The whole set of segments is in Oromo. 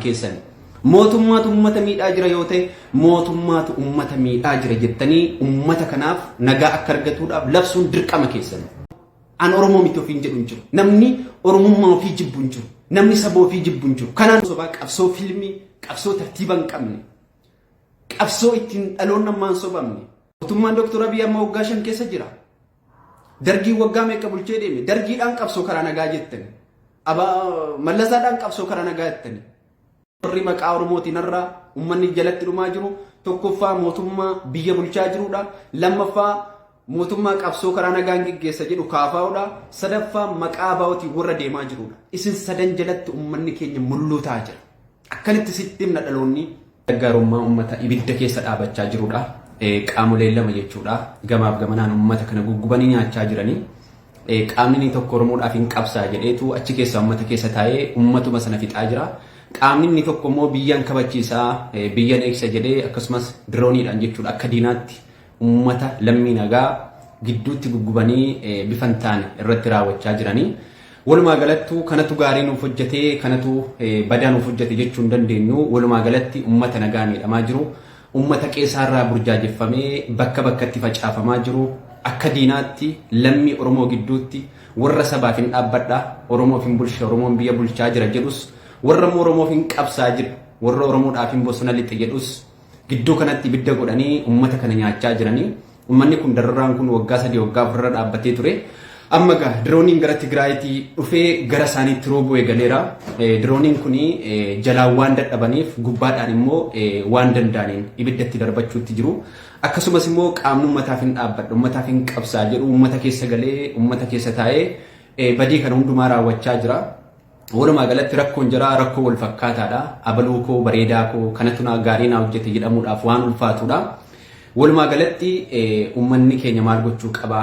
keessani. Mootummaatu ummata miidhaa jira yoo ta'e mootummaatu ummata miidhaa jira jettanii ummata kanaaf nagaa akka argatuudhaaf labsuun dirqama keessani. An Oromoo miti ofiin jedhu hin jiru. Namni Oromummaa ofii jibbu hin jiru. Namni saba ofii jibbu hin jiru. Kanaan sobaa qabsoo filmii, qabsoo tartiiba hin qabne, qabsoo ittiin dhaloonni ammaa hin sobamne. Mootummaan Dooktor Abiy amma waggaa shan keessa jira. Dargiin waggaa meeqa bulchee deeme? Dargiidhaan qabsoo karaa nagaa jettani. Mallasaadhaan qabsoo karaa nagaa jettani. Warri maqaa Oromootiin har'a uummanni jalatti dhumaa jiru tokkoffaa mootummaa biyya bulchaa jirudha. Lammaffaa mootummaa qabsoo karaa nagaan geggeessa jedhu kaafaa'udha. Sadaffaa maqaa baa'ootiin warra deemaa jirudha. Isin sadan jalatti uummanni keenya mulluu ta'aa jira. Akkanitti sitti himna dhaloonni. Gargaarummaa ummata ibidda keessa dhaabachaa jirudha. Qaamoleen lama jechuudha. Gamaaf gamanaan ummata kana guggubanii nyaachaa jiranii. Qaamni inni tokko Oromoodhaaf hin qabsaa jedheetu achi keessa ummata keessa taa'ee ummatuma sana fixaa jira. Qaamni inni tokko immoo biyyan kabachiisaa, biyyan eegsa jedhee akkasumas dirooniidhaan jechuudha akka diinaatti ummata lammii nagaa gidduutti guggubanii bifa hin taane irratti raawwachaa jiranii. Walumaa galattuu kanatu gaarii nuuf hojjetee kanatu badaa nuuf hojjete jechuu hin dandeenyu. Walumaa galatti ummata nagaa miidhamaa jiru. Ummata qeesaarraa burjaajeffamee bakka bakkatti facaafamaa jiru. Akka diinaatti lammii Oromoo gidduutti warra sabaaf hin dhaabbadha Oromoof hin bulcha Oromoon biyya bulchaa jira jedhus warra immoo Oromoof hin qabsaa jira warra Oromoodhaaf hin bosona lixe jedhus Gidduu kanatti ibidda godhanii uummata kana nyaachaa jiranii. Uummanni kun dararaan kun waggaa sadii waggaa afurra dhaabbatee ture. Amma egaa dirooniin gara Tigraayitii dhufee gara isaaniitti roobuu eegaleera. Dirooniin kun jalaan waan dadhabaniif gubbaadhaan immoo waan danda'aniin ibiddatti darbachuutti jiru. Akkasumas immoo qaamni uummataaf hin dhaabbadha, uummataaf hin qabsaa jedhu uummata keessa galee uummata keessa taa'ee badii kana hundumaa raawwachaa jira. Walumaa galatti rakkoon jaraa rakkoo wal fakkaataadha. Abaluu koo bareedaa koo kanatu naa gaarii naa hojjete jedhamuudhaaf waan ulfaatudha. Walumaa galatti uummanni keenya maal gochuu qaba?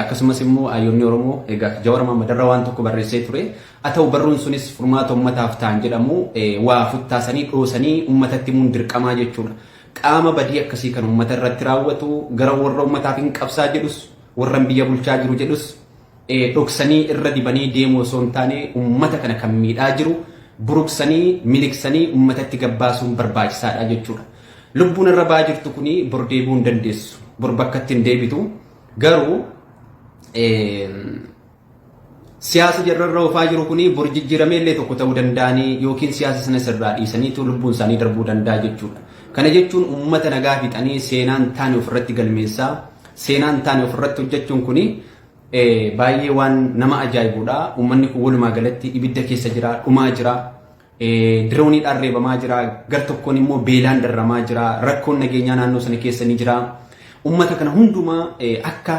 Akkasumas immoo hayyoonni Oromoo egaa Jawar Maammadarra waan tokko barreessee ture. Haa ta'u barruun sunis furmaata uummataaf ta'an jedhamu waa futtaasanii dhoosanii uummatatti himuun dirqamaa jechuudha. Qaama badii akkasii kan uummata irratti raawwatu gara warra uummataaf hin qabsaa jedhus warran biyya bulchaa jiru jedhus dhoksanii irra dibanii deemuu osoo hin taane ummata kana kan miidhaa jiru buruqsanii miliqsanii ummatatti gabbaasuun barbaachisaadha jechuudha. Lubbuun irra ba'aa jirtu kuni bor deebi'uu hin dandeessu. Bor bakkatti hin deebitu. Garuu siyaasa jarrarra oofaa jiru kuni bor jijjiiramee illee tokko ta'uu danda'anii yookiin siyaasa sana sirraa dhiisaniitu lubbuun isaanii darbuu danda'a jechuudha. Kana jechuun uummata nagaa fixanii seenaan taane ofirratti galmeessaa seenaan taane ofirratti hojjechuun kuni Baay'ee waan nama ajaa'ibuudha. Uummanni kun walumaa galatti ibidda keessa jira, dhumaa jira. Dirooniidhaan reebamaa jira. Gar tokkoon immoo beelaan darramaa jira. Rakkoon nageenyaa naannoo sana keessa ni jira. Uummata kana hundumaa akka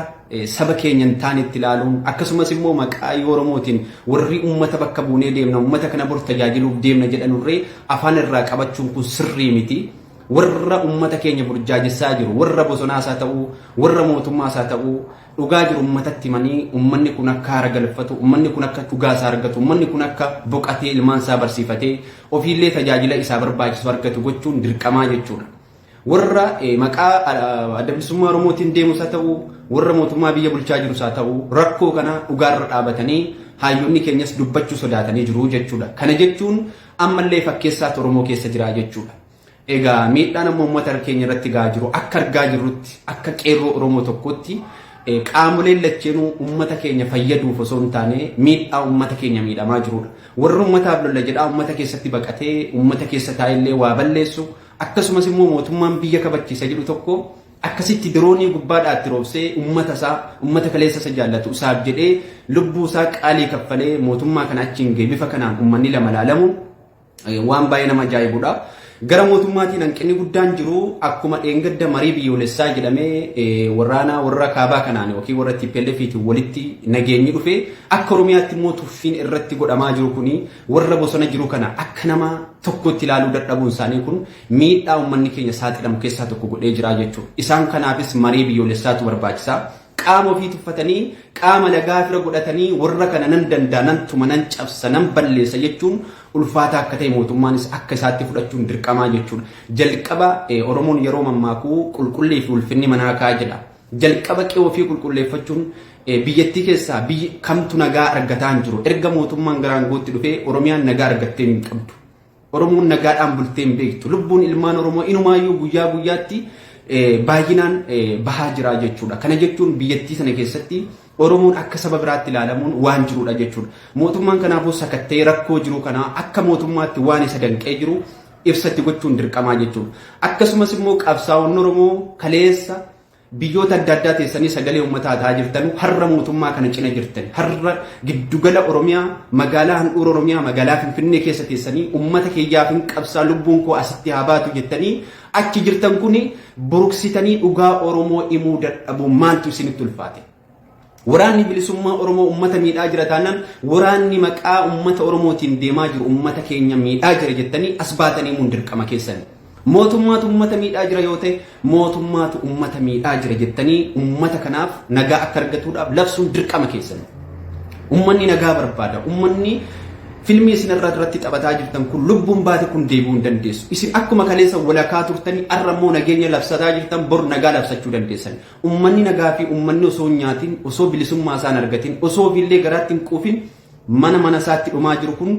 saba keenya hin taanetti ilaaluun akkasumas immoo maqaa Oromootiin warri uummata bakka buunee deemna uummata kana bor tajaajiluuf deemna jedhanurree afaan irraa qabachuun kun sirrii miti. Warra ummata keenya burjaajessaa jiru, warra bosonaas haa ta'uu, warra mootummaas haa ta'uu, dhugaa jiru ummatatti himanii ummanni kun akka haara galfatu, ummanni kun akka dhugaa isaa argatu, ummanni kun akka boqatee ilmaan isaa barsiifatee ofiillee tajaajila isaa barbaachisu argatu gochuun dirqamaa jechuudha. Warra maqaa adda bilisummaa Oromootiin deemus haa ta'uu, warra mootummaa biyya bulchaa jirus haa ta'uu, rakkoo kana dhugaarra dhaabatanii hayyonni keenyas dubbachuu sodaatanii jiru jechuudha. Kana jechuun Ammallee fakkeessaatu Oromoo keessa jira jechuudha. Egaa miidhaan amma uummata keenya irratti gahaa jiru akka argaa jirrutti akka qeerroo Oromoo tokkotti qaamoleen lacheenuu uummata keenya fayyaduuf osoo hin taane miidhaa uummata keenya miidhamaa jirudha. Warri uummataaf lolla jedhaa uummata keessatti baqatee uummata keessa taa'ellee waa balleessu akkasumas immoo mootummaan biyya kabachiisa jedhu tokko Akkasitti diroonii gubbaadhaa itti roobsee ummata isaa, ummata kaleessa isa jaallatu isaaf jedhee lubbuu isaa qaalii kaffalee mootummaa kana achiin gahe bifa kanaan ummanni lama laalamu waan baay'ee nama ajaa'ibudha. Gara mootummaatiin hanqinni guddaan jiru akkuma dheengadda marii biyyoolessaa jedhamee waraana warra kaabaa kanaan yookiin warra TPLFiitiin walitti nageenyi dhufe akka Oromiyaatti immoo tuffiin irratti godhamaa jiru kun warra bosona jiru kana akka nama tokkotti ilaaluu dadhabuun isaanii kun miidhaa ummanni keenya saaxilamu keessaa tokko godhee jiraa jechuudha. Isaan kanaafis marii biyyoolessaatu barbaachisa. Qaama ofii tuffatanii qaama lagaa fira godhatanii warra kana nan danda'a, nan tuma, nan cabsa, nan balleessa jechuun ulfaataa akka ta'e mootummaanis akka isaatti fudhachuun dirqamaa jechuudha. Jalqaba Oromoon yeroo mammaakuu qulqullii fi ulfinni manaa kaa jedha. Jalqaba qe'ee ofii qulqulleeffachuun biyyattii keessaa biyyi kamtu nagaa argataa hin jiru. Erga mootummaan gara aangootti dhufee Oromiyaan nagaa argattee hin qabdu. Oromoon nagaadhaan bultee hin beektu. Lubbuun ilmaan Oromoo inumaayyuu guyyaa guyyaatti baay'inaan bahaa jira jechuudha. Kana jechuun biyyattii sana keessatti Oromoon akka saba biraatti ilaalamuun waan jirudha jechuudha. Mootummaan kanaafuu sakatta'ee rakkoo jiru kana akka mootummaatti waan isa danqee jiru ibsatti gochuun dirqamaa jechuudha. Akkasumas immoo qabsaa'onni Oromoo kaleessa Biyyoota adda addaa teessanii sagalee uummataa tahaa jirtanu harra mootummaa kana cina jirtani. Harra giddugala Oromiyaa magaalaa handhuura Oromiyaa magaalaa Finfinnee keessa teessanii uummata kiyyaafin qabsaa lubbuun koo asitti haa baatu jettanii achi jirtan kuni buruksitanii dhugaa Oromoo imuu dadhabuun maaltu isinitti ulfaate? Waraanni Bilisummaa Oromoo ummata miidhaa jira taanaan waraanni maqaa ummata Oromootiin deemaa jiru ummata keenya miidhaa jira jettanii as baatanii himuun dirqama keessani. Mootummaatu ummata miidhaa jira yoo ta'e mootummaatu ummata miidhaa jira jettanii ummata kanaaf nagaa akka argatuudhaaf labsuun dirqama keessani. Ummanni nagaa barbaada. Ummanni filmii isin irra irratti taphataa jirtan kun lubbuun baate kun deebi'uu hin dandeessu. Isin akkuma kaleessa walakaa turtanii har'a immoo nageenya labsataa jirtan bor nagaa labsachuu dandeessan. Ummanni nagaa fi ummanni osoo hin nyaatin, osoo bilisummaa isaa hin argatin, osoo ofii illee garaatti hin quufin mana mana isaatti dhumaa jiru kun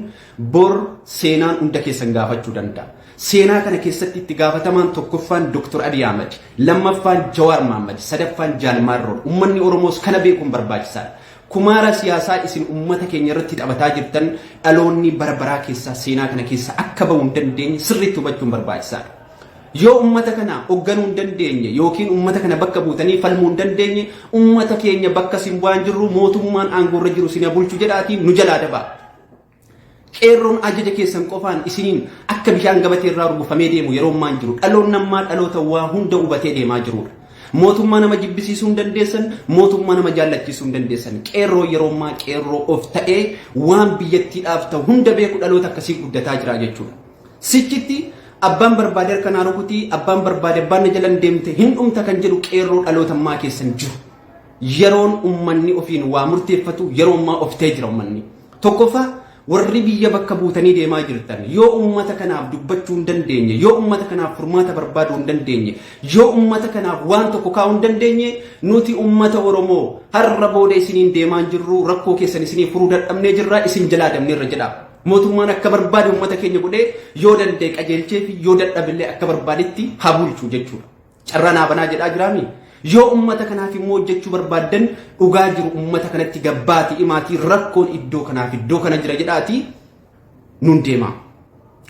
bor seenaan hunda keessan gaafachuu danda'a. Seenaa kana keessatti itti gaafatamaan tokkoffaan Dr. Abiy Ahmed, lammaffaan Jawaar Mohammed, sadaffaan Jaal Maarroon. Ummanni Oromoos kana beekuun barbaachisaadha. Kumaara siyaasaa isin ummata keenya irratti taphataa jirtan dhaloonni bara baraa keessaa seenaa kana keessaa akka bahu hin dandeenye sirriitti hubachuun barbaachisaadha. Yoo ummata kana hogganuu hin dandeenye ykn ummata kana bakka buutanii falmuu hin dandeenye ummata keenya bakka sin bu'aan jirru mootummaan aangoorra jiru sina bulchu jedhaatii nu jalaa dabaa. Qeerroon ajaja keessan qofaan isiniin akka bishaan gabatee irraa rugufamee deemu yeroo ammaan jiru dhaloonni ammaa dhaloota waa hunda hubatee deemaa jirudha. Mootummaa nama jibbisiisuu hin dandeessan, mootummaa nama jaallachiisuu hin dandeessan. Qeerroo yeroo ammaa qeerroo of ta'ee waan biyyattiidhaaf ta'u hunda beeku dhaloota akkasii guddataa jira jechuudha. Sichitti abbaan barbaade harka naa rukuti, abbaan barbaade abbaan na jalan deemte hin dhumta kan jedhu qeerroo dhaloota ammaa keessa hin jiru. Yeroon ummanni ofiin waa murteeffatu yeroo ammaa of ta'ee jira ummanni. Tokkoffaa warri biyya bakka buutanii deemaa jirtan yoo ummata kanaaf dubbachuu hin dandeenye, yoo ummata kanaaf furmaata barbaaduu hin dandeenye, yoo ummata kanaaf waan tokko kaa'uu hin dandeenye, nuti ummata Oromoo har'a booda isiniin deemaa hin jirru, rakkoo keessan isinii furuu dadhabnee jirra, isin jalaa dabneerra jedhaa. Mootummaan akka barbaade uummata keenya godhee yoo danda'e qajeelchee fi yoo dadhabillee akka barbaadetti haa bulchu jechuudha. Carraa naa banaa jedhaa jiraami. Yoo uummata kanaaf immoo hojjechuu barbaaddan dhugaa jiru uummata kanatti gabbaati imaatii rakkoon iddoo kanaaf iddoo kana jira jedhaati nun deema.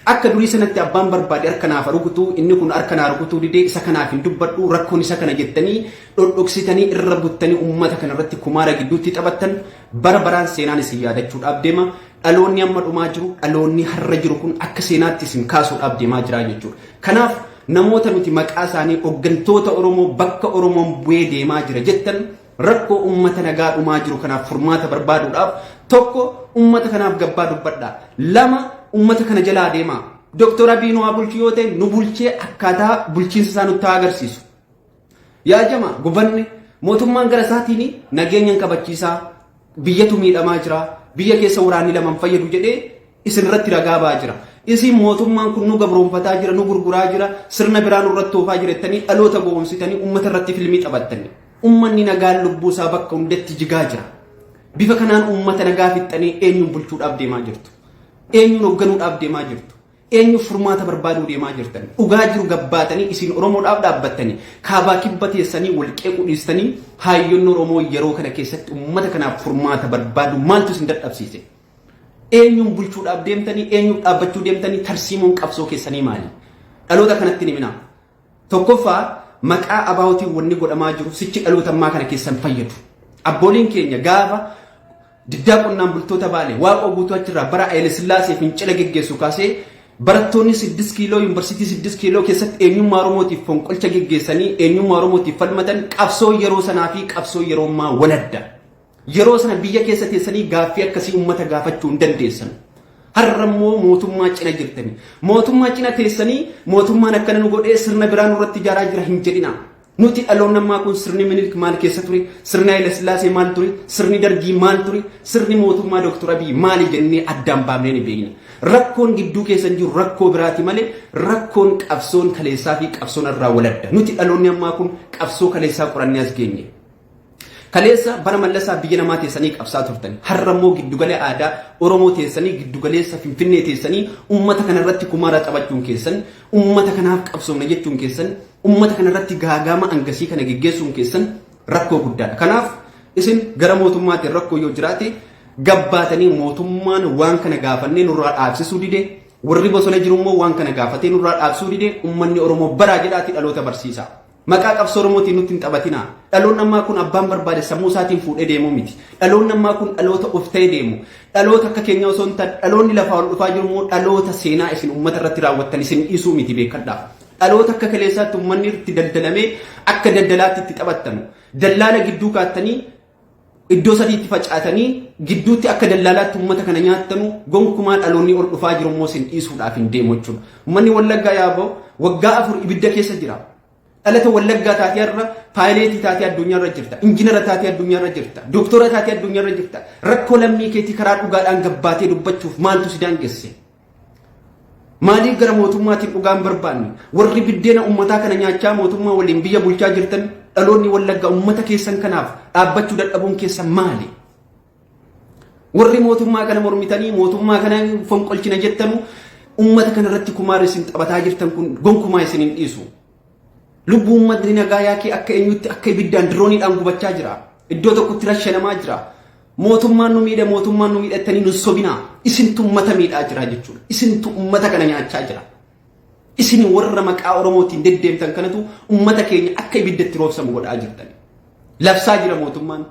Akka durii sanatti abbaan barbaade harka naaf rukutuu inni kun harka naa rukutuu didee isa kanaaf hin dubbadhu rakkoon isa kana jettanii dhodhoksitanii irra buttanii uummata kana irratti kumaara gidduutti taphattan Bara baraan seenaan isin yaadachuudhaaf deema. Dhaloonni amma dhumaa jiru, dhaloonni har'a jiru kun akka seenaatti isin kaasuudhaaf deemaa jira jechuudha. Kanaaf namoota nuti maqaa isaanii hooggantoota Oromoo bakka Oromoon bu'ee deemaa jira jettan rakkoo uummata nagaa dhumaa jiru kanaaf furmaata barbaaduudhaaf tokko uummata kanaaf gabbaa dubbadha. Lama uummata kana jalaa deemaa. Dooktor Abiy nu haa bulchu yoo ta'e nu bulchee akkaataa bulchiinsa isaa nutti haa agarsiisu. Yaa jamaa gubanne mootummaan gara isaatiin nageenyan kabachiisaa biyyatu miidhamaa jira biyya keessa waraanni laman fayyadu jedhee isin irratti ragaa ba'aa jira. Isin mootummaan kun nu gabroonfataa jira nu gurguraa jira sirna biraa nurratti oofaa jira jettanii dhaloota gowwoomsitanii uummata irratti filmii taphattanii. Uummanni nagaan lubbuu isaa bakka hundatti jigaa jira. Bifa kanaan uummata nagaa fixxanii eenyuun bulchuudhaaf deemaa jirtu. Eenyuun hoogganuudhaaf deemaa jirtu. Eenyuuf furmaata barbaaduu deemaa jirtan? Dhugaa jiru gabbaatanii isin Oromoodhaaf dhaabbattanii kaabaa kibba teessanii wal qeequu dhiistanii haayyoonni Oromoo yeroo kana keessatti uummata kanaaf furmaata barbaaduu maaltu isin dadhabsiise? Eenyuun bulchuudhaaf deemtanii eenyuuf dhaabbachuu deemtanii tarsiimoon qabsoo keessanii maali? Dhaloota kanatti hin himinaa. Tokkoffaa maqaa abaawutiin wanni godhamaa jiru sichi dhaloota ammaa kana keessan fayyadu. Abbooliin keenya gaafa diddaa qonnaan bultoota baale waaqoo guutuu achirraa bara Hayilasillaasee fincila geggeessu kaasee barattoonni siddis kiiloo yuunivarsiitii siddis kiiloo keessatti eenyummaa Oromootiif fonqolcha geggeessanii eenyummaa Oromootiif falmatan qabsoo yeroo sanaa fi qabsoo yeroo ammaa waladda. Yeroo sana biyya keessa teessanii gaaffii akkasii uummata gaafachuu hin dandeessan. Har'a immoo mootummaa cina jirtani. Mootummaa cina teessanii mootummaan akkana nu godhee sirna biraa nurratti ijaaraa jira hin jedhina. Nuti dhaloonni ammaa kun sirni Minilik maal keessa ture? Sirni Haayila Sillaasee maal ture? Sirni Dargii maal ture? Sirni mootummaa Dooktor Abiy maali jennee addaan baafnee ni beekna. Rakkoon gidduu keessan jiru rakkoo biraati malee rakkoon qabsoon kaleessaa fi qabsoon irraa waladda. Nuti dhaloonni ammaa kun qabsoo kaleessaa qorannee as geenye. Kaleessa bara mallasaa biyya namaa teessanii qabsaa turtani. Har'a immoo giddugala aadaa Oromoo teessanii giddugaleessa Finfinnee teessanii ummata kana irratti kumaara taphachuun keessan, ummata kanaaf qabsoofna jechuun keessan, ummata kana irratti gaagaama angasii kana geggeessuun keessan rakkoo guddaadha. Kanaaf isin gara mootummaatiin rakkoo yoo jiraate gabbaatanii mootummaan waan kana gaafannee nurraa dhaabsisuu dide warri bosona jiru immoo waan kana gaafatee nurraa dhaabsuu dide ummanni Oromoo baraa jedhaati dhaloota barsiisaa. Maqaa qabsoo Oromootiin nutti hin taphatinaa. Dhaloonni ammaa kun abbaan barbaade sammuu isaatiin fuudhee deemuu miti. Dhaloonni ammaa kun dhaloota of ta'ee deemu. Dhaloota akka keenyaa osoo hin taane dhaloonni lafaa ol dhufaa jiru immoo dhaloota seenaa isin uummata irratti raawwattan isin dhiisuu miti beekadhaa. Dhaloota akka kaleessaatti uummanni itti daldalamee akka daldalaatti itti taphattanu. Dallaala gidduu kaattanii iddoo sadiitti facaatanii gidduutti akka dallaalaatti uummata kana nyaattanu gonkumaa dhaloonni ol dhufaa jiru immoo sin dhiisuudhaaf hin deemu jechuudha. Uummanni Wallaggaa yaaboo waggaa afur ibidda keessa jira. Dhalata Wallaggaa taatee har'a paayileetii taatee addunyaarra jirta. Injinara taatee addunyaarra jirta. Dooktora taatee addunyaarra jirta. Rakkoo lammii keetii karaa dhugaadhaan gabbaatee dubbachuuf maaltu si daangesse? Maaliif gara mootummaatiin dhugaa hin barbaanne? Warri biddeena ummataa kana nyaachaa mootummaa waliin biyya bulchaa jirtan dhaloonni wallagga ummata keessan kanaaf dhaabbachuu dadhabuun keessan maali? Warri mootummaa kana mormitanii mootummaa kana fonqolchina jettanu ummata kana irratti kumaara isin taphataa jirtan kun gonkumaa isin hin dhiisu. Lubbuu ummatni nagaa yaakee akka eenyutti akka ibiddaan dirooniidhaan gubachaa jira. Iddoo tokkotti rashanamaa jira. Mootummaan nu miidhe mootummaan nu miidhe jettanii nu sobinaa isintu ummata miidhaa jira jechuudha. Isintu ummata kana nyaachaa jira. Isin warra maqaa Oromootiin deddeemtan kanatu ummata keenya akka ibiddatti roobsamu godhaa jirtan. Labsaa jira mootummaan.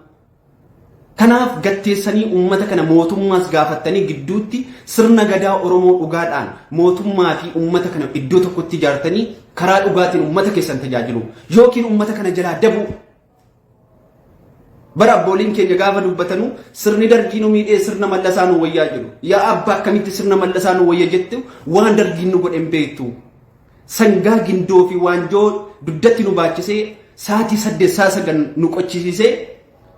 Kanaaf gatteessanii ummata kana mootummaas gaafattanii gidduutti sirna gadaa Oromoo dhugaadhaan mootummaa fi ummata kana iddoo tokkotti ijaartanii karaa dhugaatiin ummata keessan tajaajilu yookiin ummata kana jalaa dabuu Bara abbooliin keenya gaafa dubbatanuu sirni dargii nu miidhee sirna mallasaa nu wayyaa jedhu. Yaa abbaa akkamitti sirna mallasaa nu wayya jette waan dargiin nu godhe hin beektu. Sangaa gindoo fi waanjoo dugdatti nu baachisee saatii saddeet saa sagal nu qochisiisee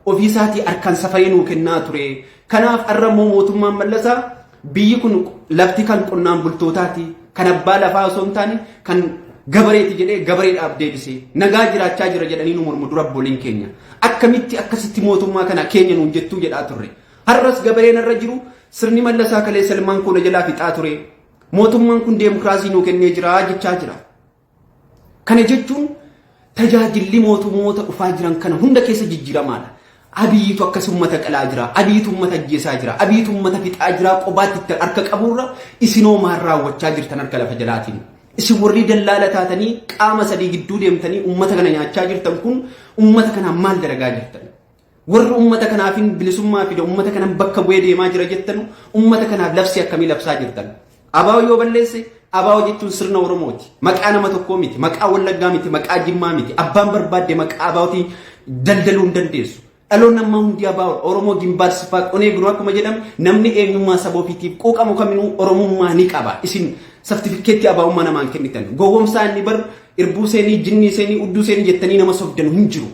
ofii isaatii harkaan safayee nuu kennaa ture. Kanaaf har'a immoo mootummaan mallasaa Biyyi kun lafti kan qonnaan bultootaati. Kan abbaa lafaa osoo hin taane kan gabareeti jedhee gabareedhaaf deebisee nagaa jiraachaa jira jedhanii nu mormu dura abbooleen keenya. Akkamitti akkasitti mootummaa kana keenya nuun jettuu jedhaa turre. Har'as gabareen irra jiru sirni mallasaa kalee salmaan koo na jalaa fixaa ture. Mootummaan kun deemokiraasii nuu kennee jira jechaa jira. Kana jechuun tajaajilli mootummoota dhufaa jiran kana hunda keessa jijjiiramaadha. Abiyiitu akkas uummata qalaa jira, abiyiitu uummata ajjeesaa jira, abiyiitu uummata fixaa jira qobaatti itti harka qabuurra isinoo maal raawwachaa jirtan harka lafa jalaatiin. Isin warri dallaala taatanii qaama sadii gidduu deemtanii uummata kana nyaachaa jirtan kun uummata kanaan maal dalagaa jirtan? Warri ummata kanaafin bilisummaa fida, ummata kanan bakka bu'ee deemaa jira jettanu, ummata kanaaf labsii akkamii labsaa jirtan? Abaawo yoo balleesse, abaawo jechuun sirna Oromooti. Maqaa nama tokkoo miti, maqaa Wallaggaa miti, maqaa Jimmaa miti. Abbaan barbaadde maqaa abaawoti daldaluu hin dandeessu. Dhaloonni ammaa hundi abaawoodha. Oromoo gimbaar siffaa qonee biroo akkuma jedhamu namni eenyummaa saba ofiitiif quuqamu kaminuu Oromummaa ni qaba. Isin sartifikkeetti abaawummaa namaan kennitan. Gowwomsaa inni bar irbuu seenii, jinnii seenii, udduu seenii jettanii nama sobdanu hin jiru.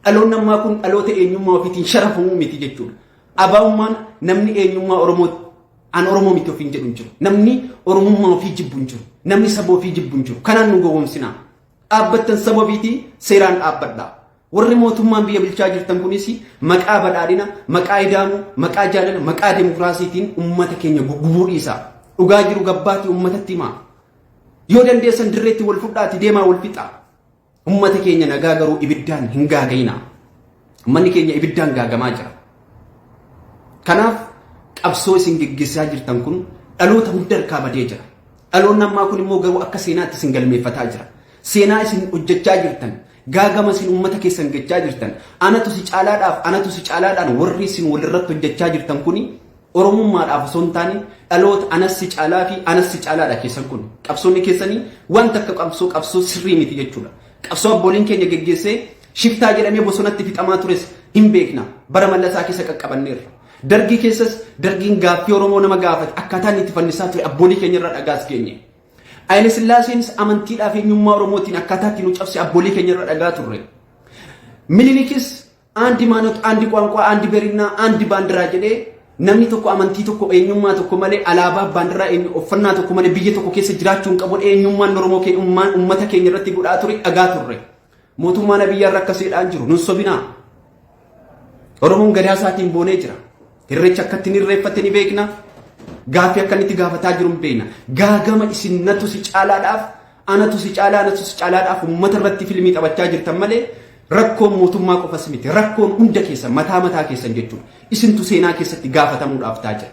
Dhaloonni ammaa kun dhaloota eenyummaa ofiitiin sharafamu miti jechuudha. Abaa'ummaan namni eenyummaa Oromoo an Oromoo miti ofiin jedhu hin jiru. Namni Oromummaa ofii jibbu hin jiru. Namni saba ofii jibbu hin jiru. Kanaan nu gowwoomsinaa. Dhaabbattan saba ofiitii seeraan dhaabbadhaa. Warri mootummaan biyya bulchaa jirtan kunis maqaa badhaadhina, maqaa ida'amuu, maqaa jaalala, maqaa demokiraasiitiin uummata keenya gugubuu dhiisaa. Dhugaa jiru gabbaatii uummatatti himaa. Yoo dandeessan dirreetti wal fudhaatii deemaa wal fixaa. Ummati keenya nagaa garuu ibiddaan hin gaaga'inaa. Ummanni keenya ibiddaan gaagamaa jira. Kanaaf qabsoo isin geggeessaa jirtan kun dhaloota hunda harkaa badee jira. Dhaloonni ammaa kun immoo garuu akka seenaatti isin galmeeffataa jira. Seenaa isin hojjechaa jirtan gaagama isin uummata keessan gechaa jirtan anatu si caalaadhaaf anatu si caalaadhaan warri isin walirratti hojjechaa jirtan kuni Oromummaadhaaf osoo hin taane dhaloota anas si caalaa fi anas si caalaadha keessan kun. Qabsoonni keessanii waan takka qabsoo qabsoo sirrii miti jechuudha. Qabsoo abbooliin keenya geggeessee shiftaa jedhamee bosonatti fixamaa tures hin beekna. Bara mallasaa keessa qaqqabanneerra. Dargii keessas dargiin gaaffii Oromoo nama gaafate akkaataa inni itti falmisaa ture abboolii keenya irraa dhagaas geenye. Haile Sillaaseenis amantiidhaaf eenyummaa Oromootiin akkaataa itti nu cabse abboolii keenya irraa dhagaa turre. Minilikis Aandi Maanot, Aandi Quwaanquwaa, Aandi Berinnaa, Aandi Baandiraa jedhee namni tokko amantii tokko eenyummaa tokko malee alaabaa baandiraa eenyu uffannaa tokko malee biyya tokko keessa jiraachuu hin qabu eenyummaan Oromoo keenya ummaan ummata keenya irratti godhaa ture dhagaa turre. Mootummaan Abiyyaa irra akkasiidhaan jiru nun sobinaa. Oromoon gadaa isaatiin boonee jira. Irreecha akka ittiin irreeffatte ni beekna. Gaaffii akka inni itti gaafataa jiru hin beekna. Gaagama isin natu si caalaadhaaf, anatu si caalaa, anatu si caalaadhaaf uummata irratti fiilmii taphachaa jirtan malee rakkoon mootummaa qofas miti. Rakkoon hunda keessan mataa mataa keessan jechuudha. Isintu seenaa keessatti gaafatamuudhaaf ta'a jira.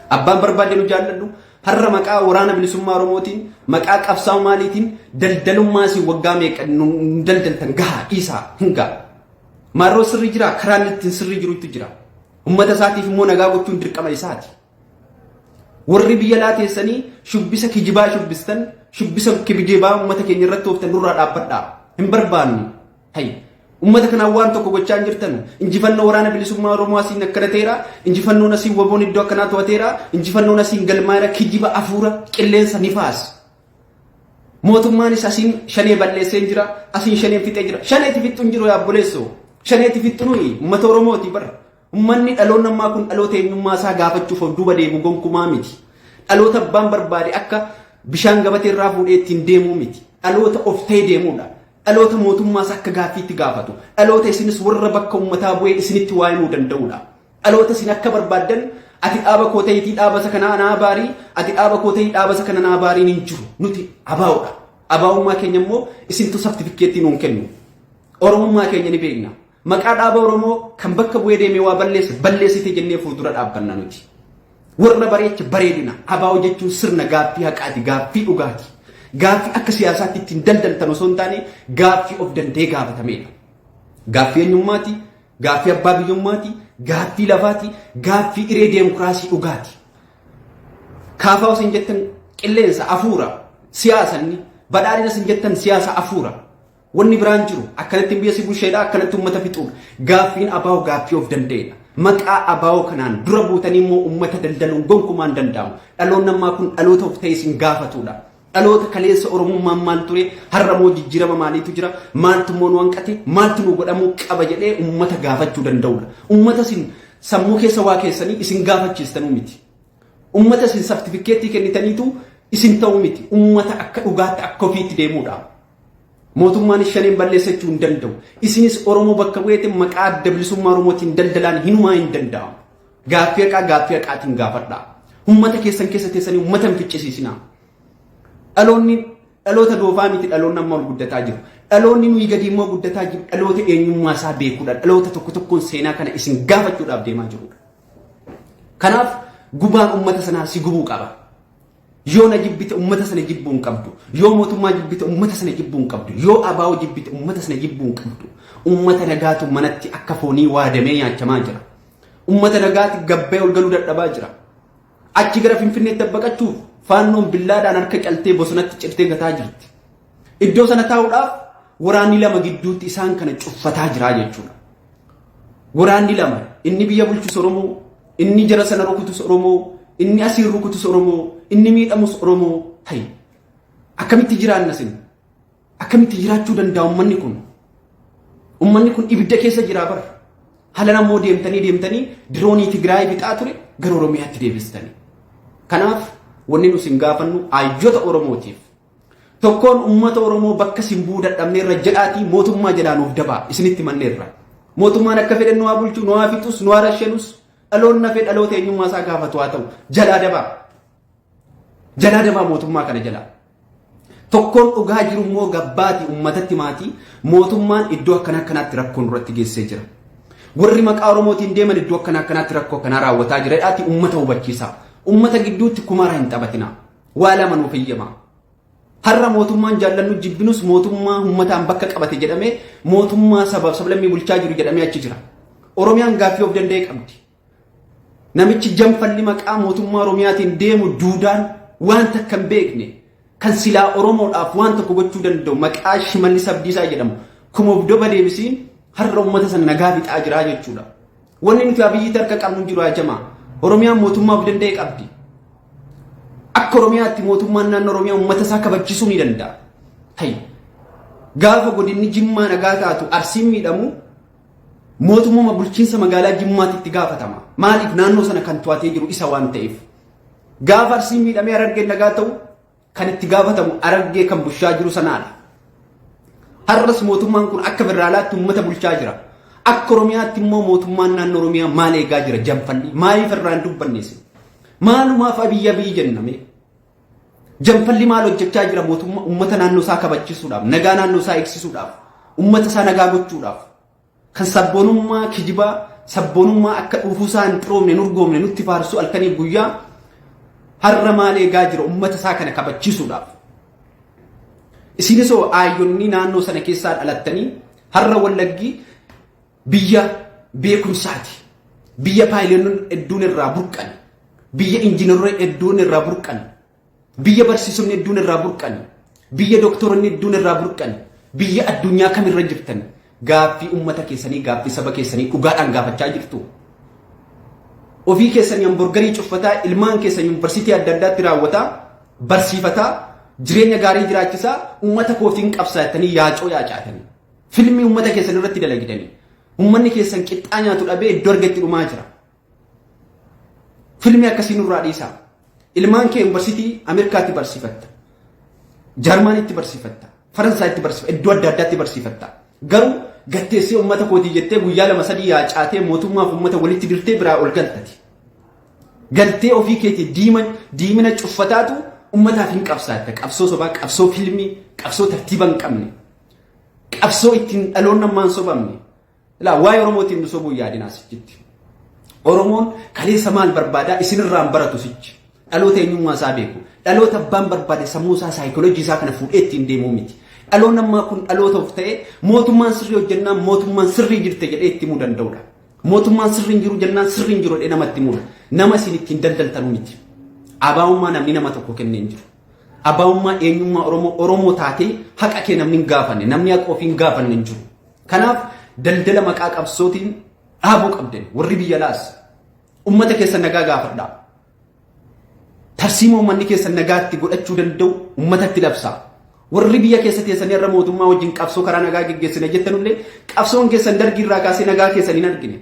Abbaan barbaade nu jaalladhu. Har'a maqaa waraana bilisummaa Oromootiin, maqaa qabsaa'u maaliitiin daldalummaa isin waggaa meeqa nu daldaltan gahaa dhiisaa hin ga'a. Marroo sirri jira karaa inni ittiin sirri jirutu jira. Ummata isaatiif immoo nagaa gochuun dirqama isaati. Warri biyya laa teessanii shubbisa kijibaa shubbistan shubbisa kibijibaa ummata keenya irratti ooftan nurraa dhaabbadhaa. Hin barbaannu. Hayy. Ummata kanaan waan tokko gochaa hin jirtanu. Injifannoo waraana bilisummaa Oromoo asiin akkana ta'eera. Injifannoon asiin waboon iddoo akkanaa to'ateera. Injifannoon asiin galmaa'eera. Kijiba afuura qilleensa nifaas. Mootummaanis asiin shanee balleesseen jira, asiin shaneen fixee jira. Shaneeti fixxu hin jiru yaa obboleessoo. Shaneeti fixxu nuyi uummata Oromooti bara. Uummanni dhaloonni ammaa kun dhaloota eenyummaa isaa gaafachuuf of duuba deemu gonkumaa miti. Dhaloota abbaan barbaade akka bishaan gabatee irraa fuudhee ittiin deemuu miti. Dhaloota of ta'ee deemudha. Dhaloota mootummaas akka gaaffiitti gaafatu. Dhaloota isinis warra bakka uummataa bu'ee isinitti waa himuu danda'udha. Dhaloota isin akka barbaaddan ati dhaaba koo ta'itii dhaabasa kana anaa abaarii ati dhaaba koo ta'ii dhaabasa kana anaa abaariin hin jiru nuti abaa'udha abaa'ummaa keenya immoo isintu saftifikkeettii nuun kennu oromummaa keenya ni beekna maqaa dhaaba oromoo kan bakka bu'ee deemee waa balleessa balleessite jennee fuuldura dhaabbanna nuti warra bareecha bareedina abaa'oo jechuun sirna gaaffii haqaati gaaffii dhugaati gaaffii akka siyaasaatti ittiin daldaltan osoo hin taane gaaffii of danda'ee gaafatamedha gaaffii eenyummaati Gaaffii abbaa biyyummaati, gaaffii lafaati, gaaffii hiree deemokiraasii dhugaati. Kaafaa isin jettan qilleensa afuura siyaasanni badhaadhina isin jettan siyaasa afuura. Wanni biraan jiru akkanatti biyya si busheedha akkanatti uummata fixuudha. Gaaffiin abaa'oo gaaffii of danda'eedha. Maqaa abaa'oo kanaan dura buutanii immoo uummata daldaluun gonkumaan danda'amu. Dhaloonni ammaa kun dhaloota of ta'e isin gaafatuudha. Dhaloota kaleessa Oromummaan maal ture, har'a moo jijjirama maaliitu jira, maaltu immoo nu hanqate, maaltu nuu godhamuu qaba jedhee ummata gaafachuu danda'udha. Ummata isin sammuu keessa waa keessanii isin gaafachiistanuu miti. Ummata isin sartifikkeettii kennitaniitu isin ta'uu miti. Ummata akka dhugaatti akka ofiitti deemudha. Mootummaanis shaneen balleessa jechuu hin danda'u. Isinis Oromoo bakka bu'eetiin maqaa adda bilisummaa Oromootiin daldalaan hinumaa hin danda'amu. Gaaffii haqaa gaaffii haqaatiin gaafadhaa. Uummata keessan keessa teessanii uummata hin ficcisiisinaa. Dhaloonni dhaloota doofaa miti dhaloonni amma ol guddataa jiru. Dhaloonni nuyi gadi immoo guddataa jiru dhaloota eenyummaa isaa beekudha. Dhaloota tokko tokkoon seenaa kana isin gaafachuudhaaf deemaa jirudha. Kanaaf gubaan uummata sanaa si gubuu qaba. Yoo na jibbite ummata sana jibbuu hin qabdu. Yoo mootummaa jibbite ummata sana jibbuu hin qabdu. Yoo abaa'oo jibbite ummata sana jibbuu hin qabdu. Ummata nagaatu manatti akka foonii waadamee nyaachamaa jira. Ummata nagaati gabbee ol galuu dadhabaa jira. Achi gara Finfinneetti baqachuuf faannoon billaadhaan harka caltee bosonatti cirtee gataa jirti. Iddoo sana taa'uudhaaf waraanni lama gidduutti isaan kana cuffataa jira jechuudha. Waraanni lama inni biyya bulchus Oromoo Inni jara sana rukutus Oromoo, inni asiin rukutus Oromoo, inni miidhamus Oromoo ta'i. Akkamitti jiraanna sin? Akkamitti jiraachuu danda'a ummanni kun? Ummanni kun ibidda keessa jiraa bara. Halan ammoo deemtanii deemtanii diroonii Tigraay bixaa ture gara Oromiyaatti deebistanii. Kanaaf wanni nu sin gaafannu ayyota Oromootiif Tokkoon ummata Oromoo bakka isin bu'uu dadhabneerra jedhaatii mootummaa jedhaa nuuf dabaa isinitti manneerra. Mootummaan akka fedhe nu haa bulchu, nu haa fixus, nu haa rashanus dhaloonni hafee dhaloota eenyummaa isaa gaafatu haa ta'u jalaa dabaa. Jalaa dabaa mootummaa kana jalaa. Tokkoon dhugaa jiru immoo gabbaati ummatatti maatii mootummaan iddoo akkana akkanaatti rakkoo nurratti geessee jira. Warri maqaa Oromootiin deeman iddoo akkana akkanaatti rakkoo kanaa raawwataa jira jedhaatii ummata hubachiisaa. Ummata gidduutti kumaaraa hin taphatinaa. Waa lama nuuf eeyyama. Har'a mootummaan jaallannu jibbinus mootummaa uummataan bakka qabate jedhamee mootummaa sabaaf sablammii bulchaa jiru jedhamee achi jira. Oromiyaan gaaffii of danda'e qabdi. Namichi jamfalli maqaa mootummaa Oromiyaatiin deemu duudaan waan takka hin beekne kan silaa Oromoodhaaf waan tokko gochuu danda'u maqaa Shimallis Abdiisaa jedhamu kuma of doba deebisiin har'a uummata sana nagaa fixaa jiraa jechuudha. Wanni nuti Abiyyiitti harka qabnu hin jiru yaa jamaa. Oromiyaan mootummaa of danda'e qabdi. Akka Oromiyaatti mootummaan naannoo Oromiyaa uummata isaa kabachiisuu ni danda'a. Ta'i. Gaafa godinni Jimmaa nagaa taatu Arsiin miidhamu mootummaa bulchiinsa magaalaa Jimmaatti itti gaafatama. Maaliif naannoo sana kan to'atee jiru isa waan ta'eef. Gaafa Arsiin miidhamee Harargeen nagaa ta'u kan itti gaafatamu Harargee kan bulchaa jiru sanaadha. Har'as mootummaan kun akka federaalaatti uummata bulchaa jira. Akka Oromiyaatti immoo mootummaan naannoo Oromiyaa maal eegaa jira janfanni maaliif irraan dubbanneessi? Maalumaaf abiyyi abiyyi jenname? Janfalli maal hojjechaa jira mootummaa uummata naannoo isaa kabachisuudhaaf, nagaa naannoo isaa eegsisuudhaaf, uummata isaa nagaa gochuudhaaf, Kan sabboonummaa kijibaa, sabboonummaa akka dhuufuusaa hin xiroomne, hin urgoofne nutti faarsu halkaniif guyyaa har'a maal eegaa jira ummata isaa kana kabachiisuudhaaf. Isinis hoo aayyonni naannoo sana keessaa dhalattanii har'a wallaggii biyya beekumsaati. Biyya paayileenoon hedduun irraa burqan. Biyya injiinarree hedduun irraa burqan. Biyya barsiisonni hedduun irraa burqan, biyya doktoronni hedduun irraa burqan, biyya addunyaa kamirra jirtan gaaffii ummata keessanii, gaaffii saba keessanii dhugaadhaan gaafachaa jirtu. Ofii keessanii hamburgarii cuffataa ilmaan keessan yuunivarsiitii adda addaatti raawwataa, barsiifataa, jireenya gaarii jiraachisaa ummata koofiin qabsaattanii yaacoo yaacaatanii. Filmii ummata keessan irratti dalagidanii. Ummanni keessan qixxaa nyaatu dhabee iddoo argetti dhumaa jira. Filmii akkasii nurraa dhiisaa. Ilmaan kee yuunivarsiitii Ameerikaatti barsiifatta. Jarmanitti barsiifatta. Faransaayitti barsiifatta. Iddoo adda addaatti barsiifatta. Garuu gatteessee uummata kootii jettee guyyaa lama sadii yaacaatee mootummaaf uummata walitti dirtee biraa ol galtati. Galtee ofii keetii diiman diimina cuffataatu uummataaf hin qabsaatta. Qabsoo sobaa, qabsoo filmii, qabsoo tartiiba hin qabne. Qabsoo ittiin dhaloonni ammaan sobamne. Ilaa waa'ee Oromootiin nu sobuu yaadinaa sichitti. Oromoon kaleessa maal barbaadaa isinirraan baratu sichi. Dhaloota eenyummaa isaa beeku. Dhaloota abbaan barbaade sammuu isaa saayikooloojii isaa kana fuudhee ittiin deemuu miti. Dhaloonni ammaa kun dhaloota of ta'ee mootummaan sirrii hojjennaan mootummaan sirrii jirte jedhee itti himuu danda'udha. Mootummaan sirrii hin jiru jennaan sirrii hin jiru jedhee namatti himudha. Nama isin ittiin daldaltanu miti. Abaa'ummaa namni nama tokko kennee hin jiru. Abaa'ummaa eenyummaa Oromoo Oromoo taatee haqa kee namni hin gaafanne namni haqa ofii hin gaafanne hin jiru. Kanaaf daldala maqaa qabsootiin dhaabuu qabdan warri biyya laas ummata keessa nagaa gaafadhaa. Tarsiimoo uummanni keessa nagaatti godhachuu danda'u uummatatti labsaa. Warri biyya keessa teessanii irra mootummaa wajjin qabsoo karaa nagaa geggeessina jettanullee qabsoon keessan dargii irraa kaasee nagaa keessan hin argine.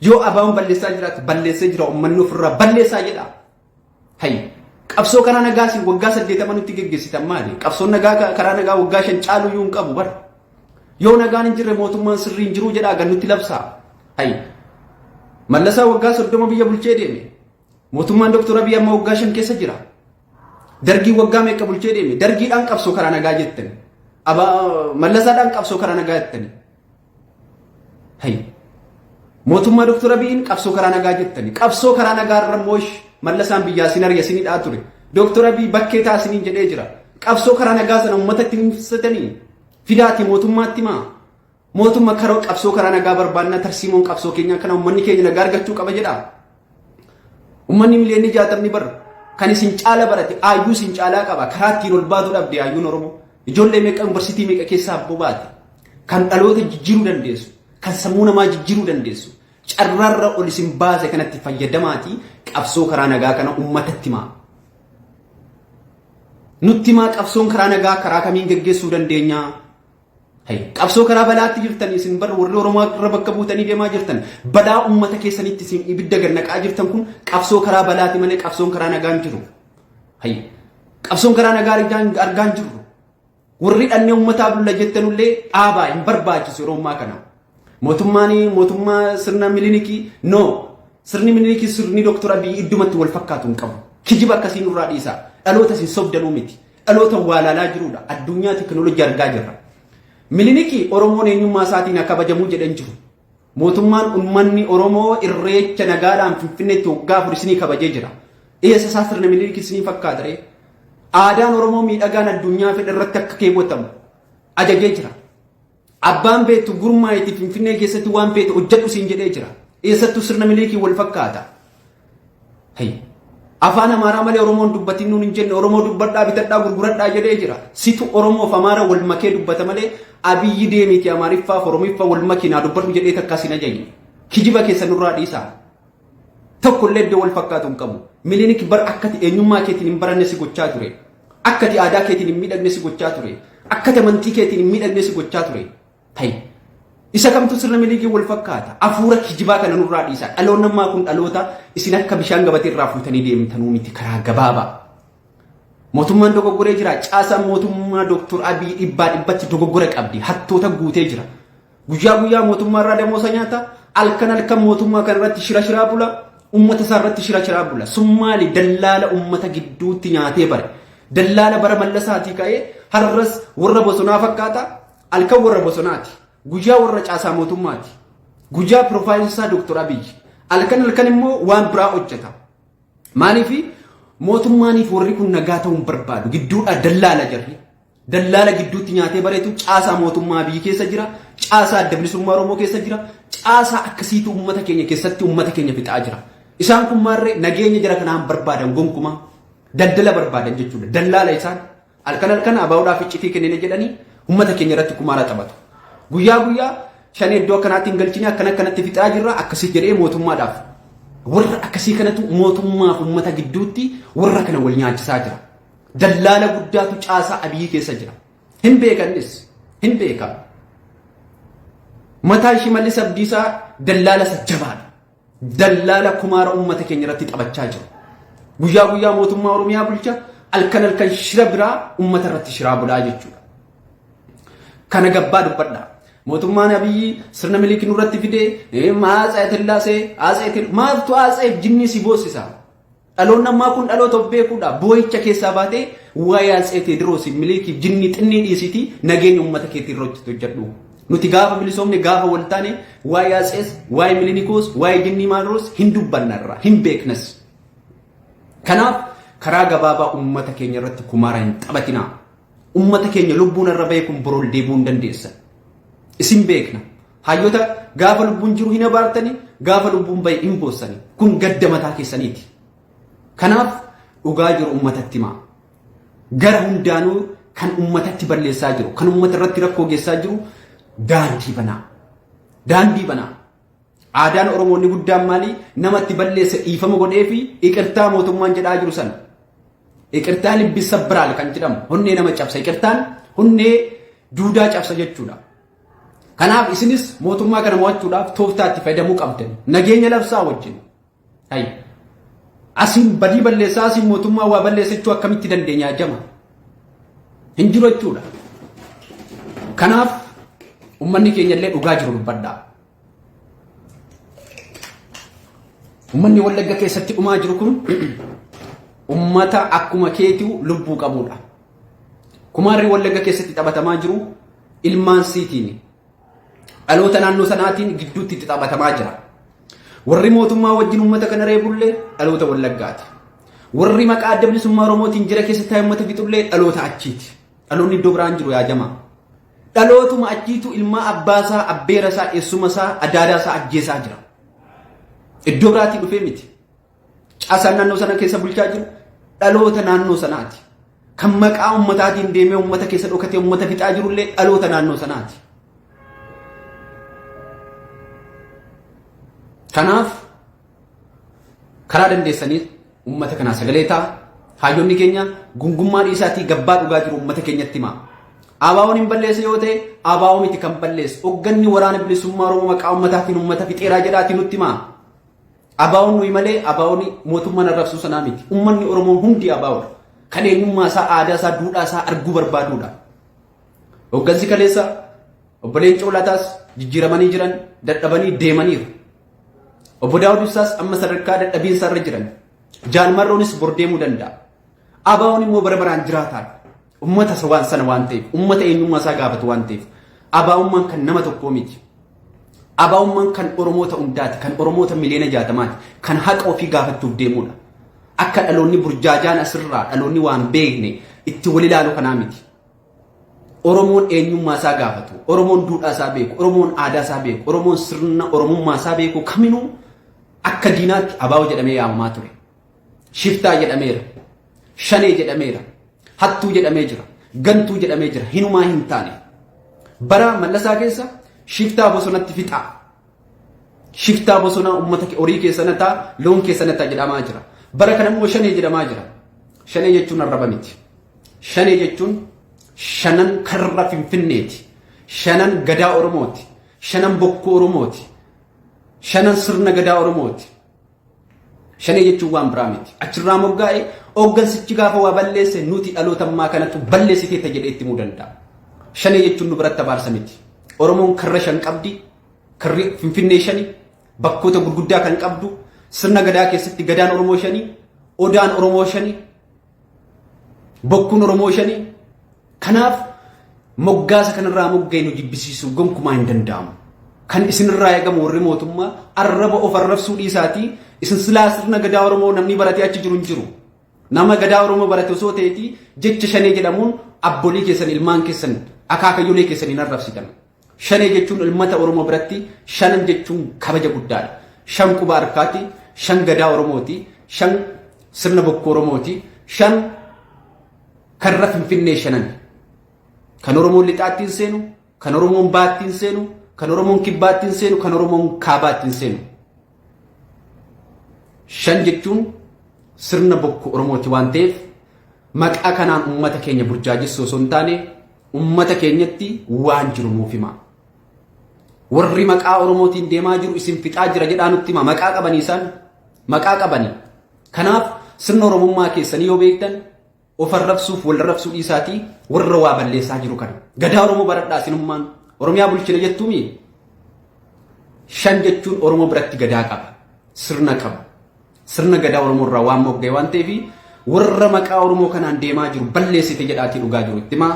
Yoo abaawoon balleessaa jiraate balleessee jira uummanni ofirraa balleessaa jedha. Hayyi qabsoo karaa nagaa isin waggaa saddeetama nutti geggeessitan maali? Qabsoon nagaa ka- karaa nagaa waggaa shan caalu iyyuu hin qabu bara. Yoo nagaan hin jirre mootummaan sirrii hin jiru jedhaa gannutti labsaa. Hayyi mallasaa waggaa soddoma biyya bulchee deeme. Mootummaan Dr. Abiy amma waggaa shan keessa jira. Dargii waggaa meeqa bulchee deeme? Dargiidhaan qabsoo karaa nagaa jettani. Aba mallasaadhaan qabsoo karaa nagaa jettani. Hay. Mootummaa Dr. Abiyin qabsoo karaa nagaa jettani. Qabsoo karaa nagaa irra moosh mallasaan biyyaa sin ariya sin hidhaa ture. Dr. Abiy bakkee taa siniin jedhee jira. Qabsoo karaa nagaa sana uummata itti himsatanii fidaati mootummaatti maa. Mootumma karoo qabsoo karaa nagaa barbaannaa tarsiimoon qabsoo keenyaa kana uummanni keenya nagaa argachuu qaba jedhaa. Uummanni miliyoonni jaatamni bar kan isin caala barate aayyuu isin caalaa qaba karaa ittiin ol baatu dhabde aayyuun Oromoo ijoollee meeqa yuunivarsiitii meeqa keessaa abboo baate kan dhaloota jijjiiruu dandeessu kan sammuu namaa jijjiiruu dandeessu carraarra ol isin baase kanatti fayyadamaatii qabsoo karaa nagaa kana uummatatti himaa. Nutti himaa qabsoon karaa nagaa karaa kamiin geggeessuu dandeenyaa? Qabsoo karaa balaatti jirtan isin bar warri Oromoo irra bakka buutanii deemaa jirtan balaa uummata keessanitti isin ibidda gad naqaa jirtan kun qabsoo karaa balaati malee qabsoon karaa nagaan jiru. Hayya. Qabsoon karaa nagaa argaan argaan jiru. Warri dhannee uummataa bulla jettanullee dhaabaa hin barbaachisu yeroo ammaa kana. Mootummaan mootummaa sirna milinikii no sirni milinikii sirni doktor Abiy iddumatti wal fakkaatu hin qabu. Kijiba akkasii nurraa dhiisaa. Dhaloota isin sobdanuu miti. Dhaloota waalaalaa jiruudha. Addunyaa tekinooloojii argaa jirra. Miliniki Oromoon eenyummaa isaatiin haa kabajamuu jedhan jiru. Mootummaan uummanni Oromoo irreecha nagaadhaan Finfinneetti waggaa afur isinii kabajee jira. Eessa isaa sirna Miliniki isinii fakkaata ree? Aadaan Oromoo miidhagaan addunyaa fedha irratti akka keewwatamu ajajee jira. Abbaan beektu gurmaa'iti Finfinnee keessatti waan feete hojjedhu siin jedhee jira. Eessattuu sirna miliikiin wal fakkaata. Hayy. Afaan Amaaraa malee Oromoon dubbatiin nuun hin jenne Oromoo dubbadhaa bitadhaa gurguradhaa jedhee jira. Situ Oromoo fi Amaara wal makee dubbata malee Abiyyi deemiiti Amaariffaa fi Oromiffa wal makii naa dubbadhu jedhee takkaa siin ajajne. Kijiba keessa nurraa dhiisaa. tokkollee iddoo wal fakkaatu hin qabu. Milinik bar akkati eenyummaa keetiin hin baranne si gochaa ture. Akkati aadaa keetiin hin miidhagne si gochaa ture. Akkati amantii keetiin hin miidhagne si gochaa ture. Ta'i. Isa kamtu sirna milikiin wal fakkaata. Afuura kijibaa kana nurraa dhiisaa. Dhaloonni ammaa kun dhaloota isin akka bishaan gabatee irraa fuutanii deemtanuu miti karaa gabaabaa. Mootummaan dogoggoree jira. Caasaan mootummaa Dooktor Abiy dhibbaa dhibbatti dogoggora qabdi. Hattoota guutee jira. Guyyaa guyyaa mootummaa irraa damoosa nyaata. Alkan halkan mootummaa kana irratti shira shiraa bula. Ummata isaa irratti shira shiraa bula. Sun maali dallaala ummata gidduutti nyaatee bare. Dallaala bara mallasaatii ka'ee har'as warra bosonaa fakkaata. Alkan warra bosonaati. Guyyaa warra caasaa mootummaati. Guyyaa piroofaayilsaa Dooktor Abiyyi. Alkan halkan immoo waan biraa hojjeta. Maaliif mootummaaniif warri kun nagaa ta'uun barbaadu gidduudhaa dallaala jarri. dallaala gidduutti nyaatee bareetu caasaa mootummaa biyyi keessa jira, caasaa adda bilisummaa Oromoo keessa jira, caasaa akkasiitu uummata keenya keessatti uummata keenya fixaa jira. Isaan kun maarree nageenya jara kanaan barbaadan gonkumaa daldala barbaadan jechuudha. Dallaala isaan halkan halkan abaa'uudhaaf iccitii kennina jedhanii uummata keenya irratti kumaara taphatu. Guyyaa guyyaa shan iddoo akkanaatti hin galchine akkana akkanatti fixaa jirra akkasii jedhee mootummaadhaaf. Warra akkasii kanatu mootummaaf uummata gidduutti warra kana wal nyaachisaa jira. Dallaala guddaatu caasaa Abiy keessa jira. Hin beekannis. Hin beekan. Mataan Shimallis Abdiisaa dallaala isa jabaadha. Dallaala kumaara uummata keenya irratti taphachaa jiru. Guyyaa guyyaa mootummaa Oromiyaa bulcha halkan halkan shira biraa uummata irratti shiraa bulaa jechuudha. Kana gabbaa dubbadha. Mootummaan Abiyyi sirna miliiki nurratti fidee maa Atsee Tillaasee Atsee Tillaasee maaltu Atseef jinnii si boossisa? Dhaloonni ammaa kun dhaloota of beekuudha. Boo'icha keessaa baatee waa'ee Atsee Teediroosiif, Milikiif, jinnii xinnii dhiisiitii nageenya uummata keetii irratti hojjedhu. Nuti gaafa bilisoomne gaafa wal taane waa'ee Atsees, waa'ee Milinikoos, waa'ee jinnii Maanroos hin dubbannarra, hin beeknas. Kanaaf karaa gabaabaa uummata keenya irratti kumaara hin taphatinaa. Uummata keenya lubbuun irra bahee kun borool deebi'uu hin dandeessa. Isin beekna. Hayyota gaafa lubbuun jiru hin abaartani, gaafa lubbuun bahe hin boossani. Kun gadda mataa keessaniiti. Kanaaf dhugaa jiru ummatatti himaa. Gara hundaanuu kan ummatatti balleessaa jiru, kan ummata irratti rakkoo geessaa jiru daandii banaa. Daandii banaa. Aadaan Oromoo inni guddaan maalii namatti balleessa dhiifama godhee fi iqirtaa mootummaan jedhaa jiru sana. Iqirtaa libbissa biraal kan jedhamu honnee nama cabsa. Iqirtaan honnee duudaa cabsa jechuudha. Kanaaf isinis mootummaa kana mo'achuudhaaf tooftaa itti fayyadamuu qabdan. Nageenya labsaa wajjin. Hayya. Asiin badii balleessaa asiin mootummaa waa balleessachuu akkamitti dandeenya jama? Hin jiru jechuudha. Kanaaf ummanni keenya illee dhugaa jiru dubbadhaa. Ummanni Wallagga keessatti dhumaa jiru kun ummata akkuma keetiu lubbuu qabudha. Kumaarri Wallagga keessatti taphatamaa jiru ilmaan siitiin dhaloota naannoo sanaatiin gidduutti itti taphatamaa jira. Warri mootummaa wajjin uummata kana reebullee dhaloota wallaggaati. Warri maqaa adda bilisummaa Oromootiin jira keessa taa'e uummata fixullee dhaloota achiiti. Dhaloonni iddoo biraan jiru yaa jamaa. Dhalootuma achiitu ilmaa abbaasaa, abbeerasaa, eessumasaa, adaadaasaa ajjeesaa jira. Iddoo biraatii dhufee miti. Caasaan naannoo sana keessa bulchaa jiru dhaloota naannoo sanaati. Kan maqaa ummataatiin deemee ummata keessa dhokatee ummata fixaa jirullee dhaloota naannoo sanaati. Kanaaf karaa dandeessanii ummata kanaa sagalee ta'a. Hayyonni keenya gungummaa dhiisaatii gabbaa dhugaa jiru ummata keenyatti himaa. Abaawoon hin balleessa yoo ta'e abaawoo miti kan balleessu. Hogganni waraana bilisummaa Oromoo maqaa ummataatiin ummata fixeeraa jedhaatii nutti himaa. Abaawoon nuyi malee abaawoon mootummaan arrabsuu sanaa miti. Ummanni Oromoo hundi abaawoodha. Kan eenyummaa isaa, aadaa isaa, duudhaa isaa arguu barbaaduudha. Hoggansi kaleessa obbo Leencoo Lataas jijjiiramanii jiran dadhabanii deemaniiru. Obbo Daawud Ibsaas amma sadarkaa dadhabiinsa irra jiran. Jaal Marroonis bor deemuu danda'a. Abaa'oon immoo bara baraan jiraataadha. Uummata isa waan sana waan ta'eef, uummata eenyummaa isaa gaafatu waan ta'eef, abaa'ummaan kan nama tokkoo miti. Abaa'ummaan kan Oromoota hundaati, kan Oromoota miliyoona jaatamaati, kan haqa ofii gaafachuuf deemudha. Akka dhaloonni burjaajaan asirraa dhaloonni waan beekne itti wal ilaalu kanaa miti. Oromoon eenyummaa isaa gaafatu, Oromoon duudhaa isaa beeku, Oromoon aadaa isaa beeku, Oromoon sirna Oromummaa isaa beeku kaminuu akka diinaatti abaa'oo jedhamee yaamamaa ture. Shiftaa jedhameera. Shanee jedhameera. Hattuu jedhamee jira. Gantuu jedhamee jira. Hinumaa hin taane. Bara mallasaa keessa shiftaa bosonatti fixaa. Shiftaa bosonaa uummata horii keessa nataa, loon keessa nataa jedhamaa jira. Bara kana immoo shanee jedhamaa jira. Shanee jechuun arraba miti. Shanee jechuun shanan karra finfinneeti. Shanan gadaa Oromooti. Shanan bokkuu Oromooti. Shanan sirna gadaa Oromooti. Shanee jechuun waan biraa miti. Achirraa moggaa'e hooggansichi gaafa waa balleesse nuti dhaloota ammaa kanatu balleessiteetta jedhee itti himuu danda'a. Shanee jechuun nu biratti abaarsa miti. Oromoon karra shan qabdi. Karri Finfinnee shani. Bakkoota gurguddaa kan qabdu. Sirna gadaa keessatti gadaan Oromoo shani. Odaan Oromoo shani. Bokkuun Oromoo shanii kanaaf moggaasa kanarraa mogga'e nu jibbisiisuun gonkumaa hin danda'amu. Kan isinirraa eegamu warri mootummaa arraba of arrabsuu dhiisaatii isin silaa sirna gadaa Oromoo namni baratee achi jiru hin jiru. Nama gadaa Oromoo barate osoo ta'eetii jecha shanee jedhamuun abbolii keessan ilmaan keessan akaakayyolee keessan hin arrabsitan. Shanee jechuun ilmata Oromoo biratti shanan jechuun kabaja guddaadha. Shan quba harkaati, shan gadaa Oromooti, shan sirna bokkuu Oromooti, shan karra Finfinnee shanani. Kan Oromoon lixaatti hin seenu, kan Oromoon baatti hin seenu, kan Oromoon kibbaatti hin seenu, kan Oromoon kaabaatti hin seenu. Shan jechuun sirna bokkuu Oromooti waan ta'eef maqaa kanaan uummata keenya burjaajessuu osoo hin taane uummata keenyatti waan jiru nuuf himaa. Warri maqaa Oromootiin deemaa jiru isin fixaa jira jedhaa nutti himaa maqaa qabanii isaan maqaa qabanii. Kanaaf sirna Oromummaa keessanii yoo beektan Of arrabsuuf wal arrabsuu dhiisaatii warra waa balleessaa jiru kana. Gadaa Oromoo baradhaa sinummaan Oromiyaa bulchina jettuumi. Shan jechuun Oromoo biratti gadaa qaba. Sirna qaba. Sirna gadaa Oromoo irraa waan mogga'e waan ta'eef warra maqaa Oromoo kanaan deemaa jiru balleessite jedhaatii dhugaa jiru itti himaa.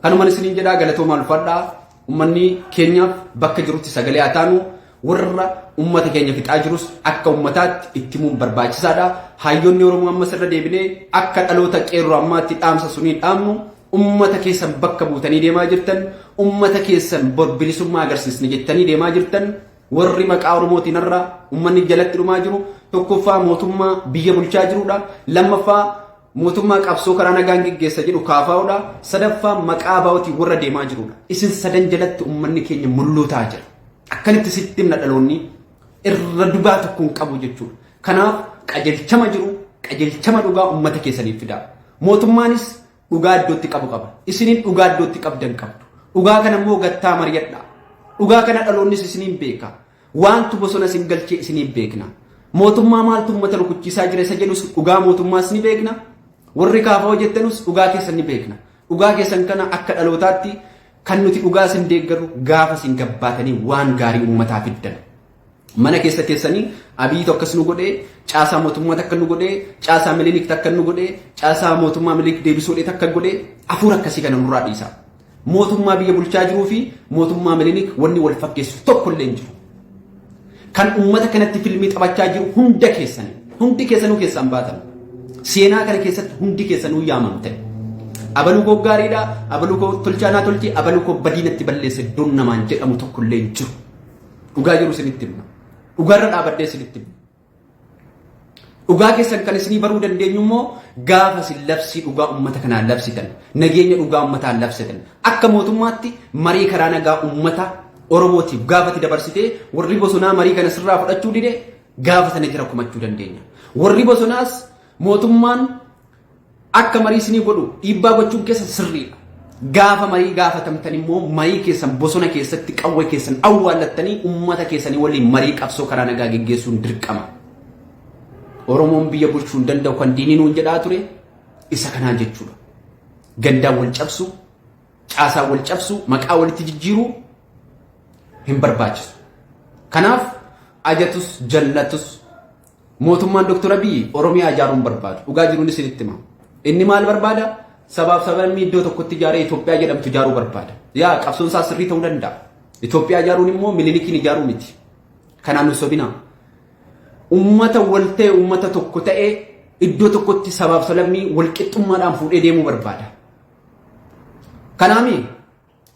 Kanuman isiniin jedhaa galatoomaa ulfaadhaa. Ummanni keenya bakka jirutti sagalee haa taanu, warra ummata keenya fixaa jirus akka ummataatti itti himuun barbaachisaadha. Haayyoonni Oromoo ammas irra deebinee akka dhaloota qeerroo ammaatti dhaamsa sunii dhaamnu ummata keessan bakka buutanii deemaa jirtan, ummata keessan bor bilisummaa agarsiisna jettanii deemaa jirtan, warri maqaa Oromootiin irra ummanni jalatti dhumaa jiru, tokkoffaa mootummaa biyya bulchaa jirudha, lammaffaa Mootummaa qabsoo karaa nagaan geggeessa jedhu KFO dha. Sadaffaa maqaa ABOtiin warra deemaa jiru dha. Isin sadan jalatti ummanni keenya mulluutaa jira. Akkanitti sitti himna dhaloonni irra dugaa tokko hin qabu jechuudha. Kanaaf qajeelchama jiru qajeelchama dhugaa ummata keessaniif fidaa. Mootummaanis dhugaa iddootti qabu qaba. Isiniin dhugaa iddootti qabdan qabdu. Dhugaa kana immoo gattaa mari'adhaa. Dhugaa kana dhaloonnis isiniin beeka. Waantu bosona isin galche isiniif beekna. Mootummaa maaltu uummata rukuchiisaa jira isa jedhus dhugaa mootummaas ni beekna. Warri kaafa'oo jettanus dhugaa keessan ni beekna. Dhugaa keessan kana akka dhalootaatti kan nuti dhugaa isin deeggarru gaafa isin gabbaatanii waan gaarii uummataa fiddan. Mana keessa teessanii abiyyiitu akkas nu godhee, caasaa mootummaa takka nu godhee, caasaa milinik takka nu godhee, caasaa mootummaa milinik deebisuu dhee takka godhee, hafuura akkasii kana nurraa dhiisaa. Mootummaa biyya bulchaa jiruu fi mootummaa Minilik wanni wal fakkeessu tokko illee hin jiru. Kan uummata kanatti filmii taphachaa jiru hunda keessan hundi keessanuu keessaan baatan. Seenaa kana keessatti hundi keessanuu yaamamte. Abaluu koo gaariidha, abaluu koo tolchaa naa tolchi, abaluu koo badiinatti balleessa iddoon namaan jedhamu tokko illee hin jiru. Dhugaa jiru isinitti himna. Dhugaarra dhaabadhee isinitti himna. Dhugaa keessan kan isinii baruu dandeenyu immoo gaafa isin labsii dhugaa uummata kanaan labsitan, nageenya dhugaa uummataan labsitan, akka mootummaatti marii karaa nagaa uummata Oromootiif gaafati dabarsitee warri bosonaa marii kana sirraa fudhachuu dide gaafa sana jira kumachuu dandeenya. Warri bosonaas mootummaan akka marii isinii godhu dhiibbaa gochuun keessa sirriidha. Gaafa marii gaafatamtan immoo marii keessan bosona keessatti qawwee keessan awwaallattanii uummata keessanii waliin marii qabsoo karaa nagaa geggeessuun dirqama. Oromoon biyya bulchuu hin danda'u kan diinii nuun jedhaa ture isa kanaa jechuudha. Gandaan wal cabsu, caasaan wal cabsu, maqaa walitti jijjiiruu hin barbaachisu. Kanaaf ajatus jallatus Mootummaan Dr. Abiyyi Oromiyaa ijaaruun barbaadu. Dhugaa jiruun isinitti hima. Inni maal barbaada? Sabaaf sablammii iddoo tokkotti ijaaree Itoophiyaa jedhamtu ijaaruu barbaada. Yaa qabsoon isaa sirrii ta'uu danda'a. Itoophiyaa ijaaruun immoo mililikiin ijaaruu miti. Kanaan nu sobinaa. Uummata wal ta'e uummata tokko ta'e iddoo tokkotti sabaaf sablammii wal qixxummaadhaan fuudhee deemuu barbaada. Kanaami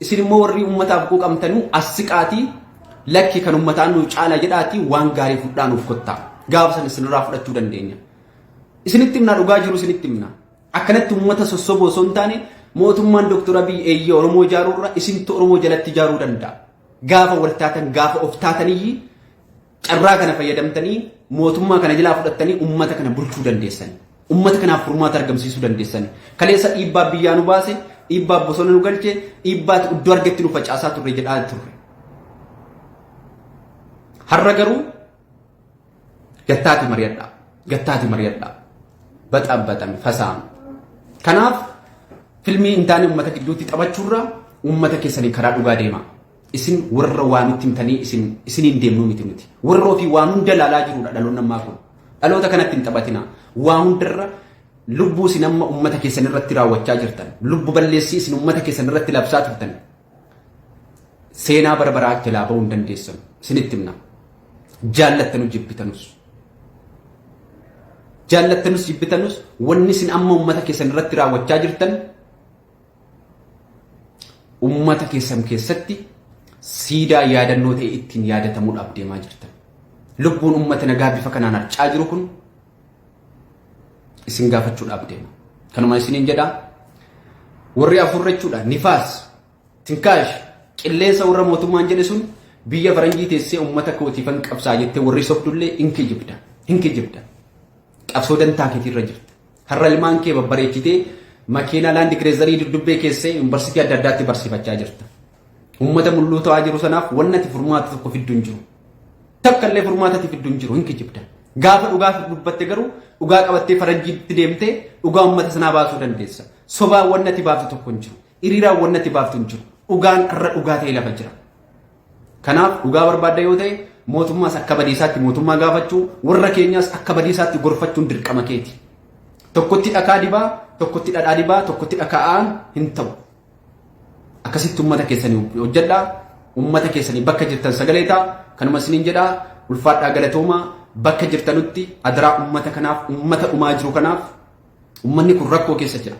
Isin immoo warri ummataaf quuqamtanuu as siqaatii lakki kan ummataa nu caala jedhaatii waan gaarii fudhaa nuuf kottaa. Gaafa sana isinirraa fudhachuu dandeenya. Isinitti himnaa dhugaa jiru isinitti himnaa. Akkanatti ummata sossoboo osoo hin taane mootummaan Dr. Abiy eeyyee Oromoo ijaaruu irra isintu Oromoo jalatti ijaaruu danda'a. Gaafa wal taatan gaafa of taataniyyi Carraa kana fayyadamtanii mootummaa kana jalaa fudhattanii ummata kana bulchuu dandeessanii. Ummata kanaaf furmaata argamsiisuu dandeessanii. Kaleessa dhiibbaa biyyaa nu baase, dhiibbaa bosona nu galche, dhiibbaa iddoo argetti nu facaasaa turre jedhaa turre. Har'a garuu gattaati mari'adhaa. Gattaati mari'adhaa. Baxaan baxame fasaama. Kanaaf filmii hin taane ummata gidduutti taphachuurra ummata keessanii karaa dhugaa deemaa. Isin warra waa nutti himtanii isin isiniin deemnuu miti nuti. Warra ofii waan hunda ilaalaa jirudha dhaloonni ammaa kun. Dhaloota kanatti hin taphatina. Waa hundarra lubbuu isin amma ummata keessan irratti raawwachaa jirtan, lubbu balleessii isin ummata keessan irratti labsaa turtan seenaa bara baraa jalaa ba'uu hin dandeessan. Isinitti himna. Jaallattanu jibbitanus. Jaallattanus jibbitanus wanni isin amma ummata keessan irratti raawwachaa jirtan Ummata keessan keessatti siidaa yaadannoo ta'e ittiin yaadatamuudhaaf deemaa jirtan. Lubbuun ummata nagaa bifa kanaan harcaa jiru kun isin gaafachuudhaaf deema. Kanuma isiniin jedha warri afurra jechuudha nifaas tinkaash qilleensa warra mootummaan jedhe sun biyya faranjii teessee ummata kootiifan qabsaa jettee warri sobdullee hin kijibda hin kijibda qabsoo dantaa keetiirra jirta. Har'a ilmaan kee babbareechitee makiinaa laandi kireezarii duddubbee keessee yuunivarsiitii adda addaatti barsiifachaa jirta. Uummata mulluu ta'aa jiru sanaaf wanni ati furmaata tokko fiddu hin jiru. Takka illee furmaata ati fiddu hin jiru hin kijibda. Gaafa dhugaa dubbatte garuu dhugaa qabattee faranjiitti deemtee dhugaa uummata sanaa baasuu dandeessa. Sobaan wanni ati baaftu tokko hin jiru. Hiriiraan wanni ati baaftu hin jiru. Dhugaan irra dhugaa ta'e lafa jira. Kanaaf dhugaa barbaadda yoo ta'e mootummaas akka badiisaatti mootummaa gaafachuu warra keenyaas akka badiisaatti gorfachuun dirqama keeti. Tokkotti dhakaa dibaa, tokkotti dhadhaa dibaa, tokkotti dhaka'aan hin ta'u. Akkasitti uummata keessanii hojjedhaa, uummata keessanii bakka jirtan sagalee ta'a, kanuma isiniin jedhaa ulfaadhaa galatoomaa bakka jirtanutti adaraa uummata kanaaf, uummata dhumaa jiru kanaaf uummanni kun rakkoo keessa jira.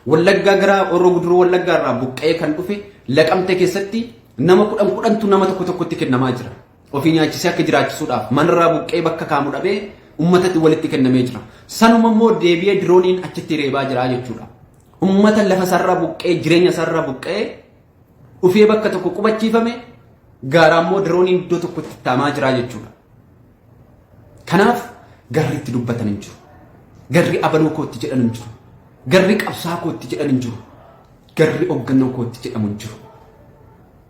Wallaggaa gara Horroo Guduruu Wallaggaa irraa buqqa'ee kan dhufe Laqamte keessatti nama kudhan kudhantu nama tokko tokkotti kennamaa jira. Ofii nyaachisee akka jiraachisuudhaaf manarraa buqqa'ee bakka kaamu dhabee ummatatti walitti kennamee jira. Sanuma immoo deebi'ee dirooniin achitti reebaa jira jechuudha. Ummata lafa sarara buqqa'ee jireenya sarara buqqa'ee dhufee bakka tokko qubachiifame gaaraa immoo dirooniin iddoo tokkotti taamaa jira jechuudha. Kanaaf garri itti dubbatan hin jiru. Garri abaloo kootti jedhan hin jiru. Garri qabsaa kootti jedhan hin jiru. Garri hoggannoo kootti jedhamu hin jiru.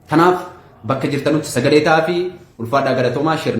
Kanaaf bakka jirtanutti sagalee ta'aa fi ulfaadhaa galatoomaa shir